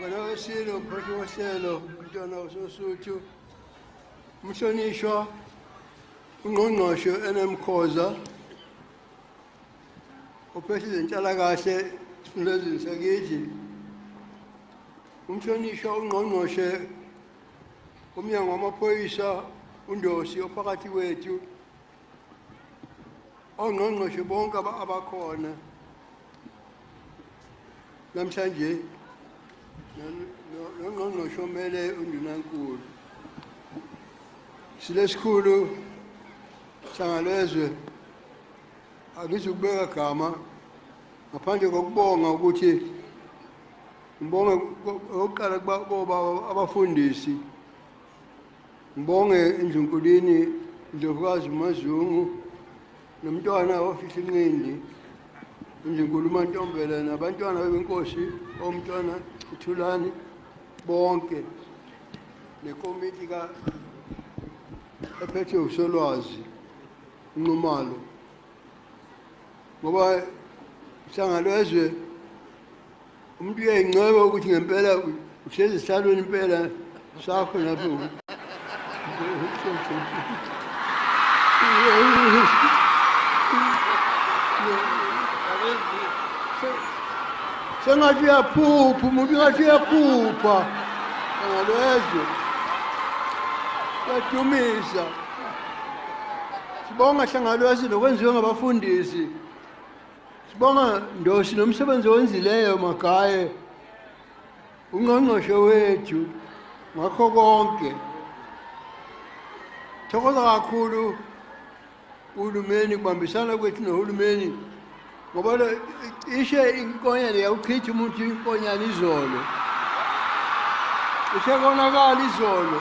wena wesilo mphathi wohlelo umntwana usosuthu umhlonishwa ungqongqoshe enemkhoza ophethe izenhlalakahle esifundazweni sakithi umhlonishwa ungqongqoshe umnyango wamaphoyisa undosi ophakathi kwethu ongqongqoshe bonke abakhona namhlanje nongqongqoshe omele undunankulu silesikhulu sangalezwe angizukubeka gama ngaphandle kokubonga ukuthi Ngibonge okokuqala kuba abafundisi. Ngibonge indlunkulini Ndlovukazi Mazungu nomntwana ofihla inqindi indlunkulu uMantombela nabantwana bebenkosi omntwana uThulani bonke nekomiti ka ephethwe uSolwazi Nxumalo ngoba sangalo ezwe umuntu uyayincoma ukuthi ngempela uhlezi esihlalweni impela sakho lapho sengathi uyaphupha umuntu ngathi uyaphupha angalezwe kuyadumisa sibonga hlangalwesi nokwenziwe ngabafundisi Sibonga Ndosi nomsebenzi owenzileyo Magaye ungqongqoshe wethu ngakho konke. Thokoza kakhulu uhulumeni kubambisana kwethu nohulumeni ngoba ishe inkonyane yawuchitha umuntu inkonyane izolo ishe konakala izolo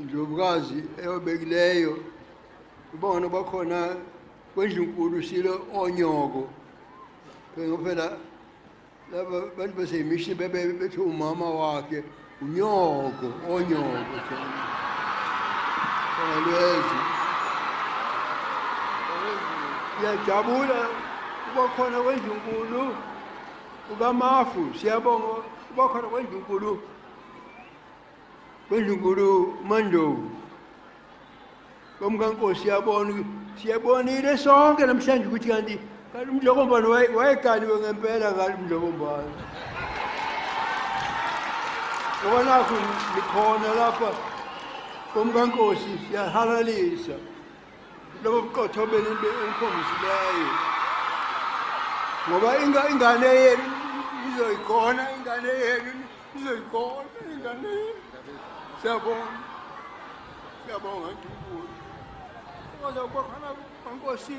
indlovukazi eyobekileyo ibona bakhona kwendlunkulu silo onyoko ngophela laba bantu baseyimishini bebe bethi umama wakhe unyoko onyoko alwezi siyajabula kuba khona kwendlunkulu ukamafu siyabonga kuba khona kwendlunkulu Kwezinkulu Mandovu komkankosi siyabona siyabonile sonke namhlanje ukuthi kanti kanti umdlokombane wayekaliwe ngempela ngalo umdlokombane ngoba nakho likhona lapha komkankosi siyahalalisa lobo buqotho benu enikhombisileyo ngoba ingane yenu izoyikhona ingane yenu Izoyibona ingane yenu. Siyabonga. Siyabonga Nkulunkulu. Ngoba kwakhona kwaNkosi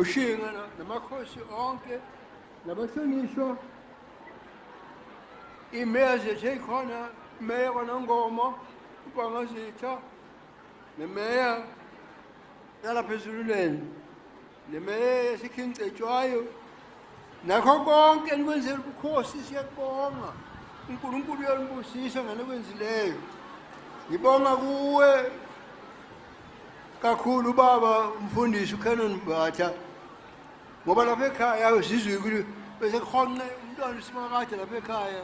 ushinga namakhosi onke nabahlonishwa imeze seyikhona imeya kwanangomo ubangazitha nemeya yalapha ezululeni Nemeya yaseKing Cetshwayo nakho konke enikwenzela ubukhosi siyakubonga uNkulunkulu uyalibusisa ngalokwenzileyo ngibonga kuwe kakhulu ubaba umfundisi uCanon Mbatha ngoba lapha ekhaya sizwe ukuthi bese kuhonqe umntwana uSimakade lapha ekhaya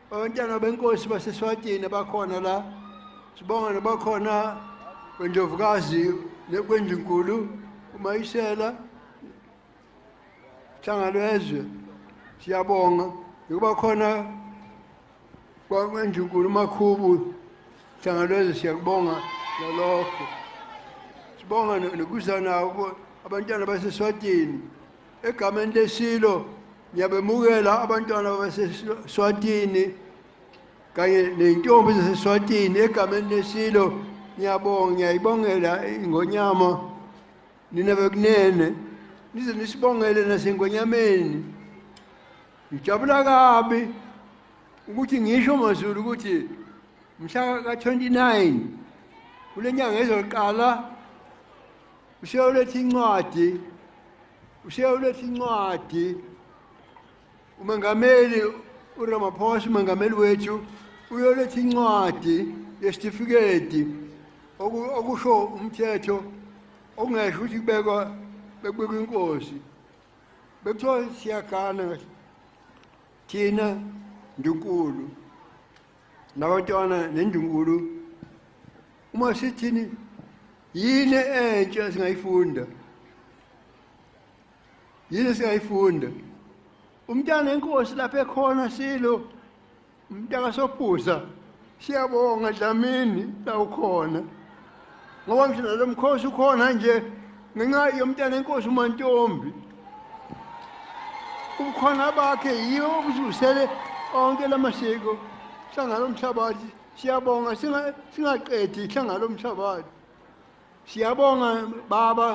Abantwana benkosi baseSwatini abakhona la. Sibonga nabakhona kwendovukazi nekwendinkulu uMayisela Hlangalwezwe. Siyabonga ngoba khona kwangendinkulu uMakhubu Hlangalwezwe siyakubonga nalokho. Sibonga nokuzana abantwana baseSwatini. Egameni leSilo ngiyabemukela abantwana baseSwatini kanye neyintombi zaseSwatini egameni leSilo ngiyabonga ngiyayibongela ingonyama nina bekunene nize nisibongele nasengonyameni ngijabula kabi ukuthi ngisho mazulu ukuthi mhla ka-29 kule nyanga ezoqala Ushiya uletha incwadi. Ushiya uletha incwadi. Umengameli uRamaphosa umengameli wethu uyoletha incwadi yesitifiketi okusho umthetho okungesho ukuthi kubekwa bekubekwa inkosi bekuthiwa siyagana thina ndunkulu nabatwana nendungulu uma sithini yini entsha singayifunda yini singayifunda umntana enkosi lapha ekhona silo umntaka sophuza siyabonga dlamini la ukhona ngoba ngisho nalo mkhosi ukhona nje ngenxa yomntana enkosi umantombi ubukhona bakhe yiwo obuzusele onke la masiko hlangana omhlabathi siyabonga singaqedi hlangana omhlabathi siyabonga baba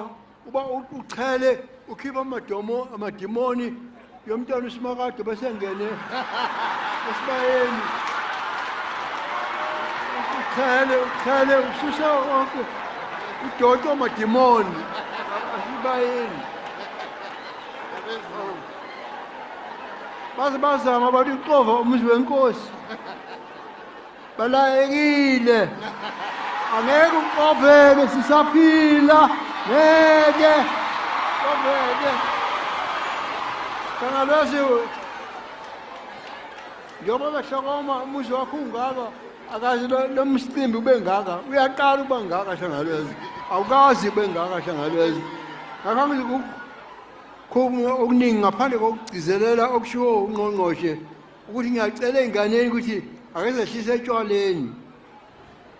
uba uqhele ukhipha amadomo amadimoni yomntwana usimakade besengene esibayeni uqhele uqhele ususa wonke udoto amadimoni asibayeni baze bazama bathi uxova umuzi wenkosi Balayekile. Angeke uqoveke sisaphila. Ngeke. Qoveke. Kana lezi njengoba behlokoma umuzi wakho ungaka akazi lo msicimbi ube ngaka uyaqala uba ngaka hlangalwezi awukazi ube ngaka hlangalwezi ngakho angizikukho okuningi ngaphandle kokugcizelela okushiwo ungqongqoshe ukuthi ngiyacela ey'nganeni ukuthi akezehlise etshwaleni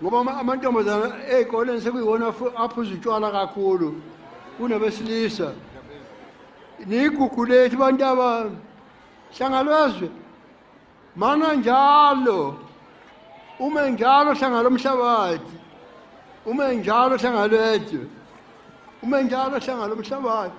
ngoba amantombazana ey'koleni sekuyiwona aphuza utshwala kakhulu kunabesilisa niyigugu lethu bantu aba hlangalwezwe mana njalo ume njalo hlangalo mhlabathi ume njalo hlangalwezwe ume njalo hlangalo mhlabathi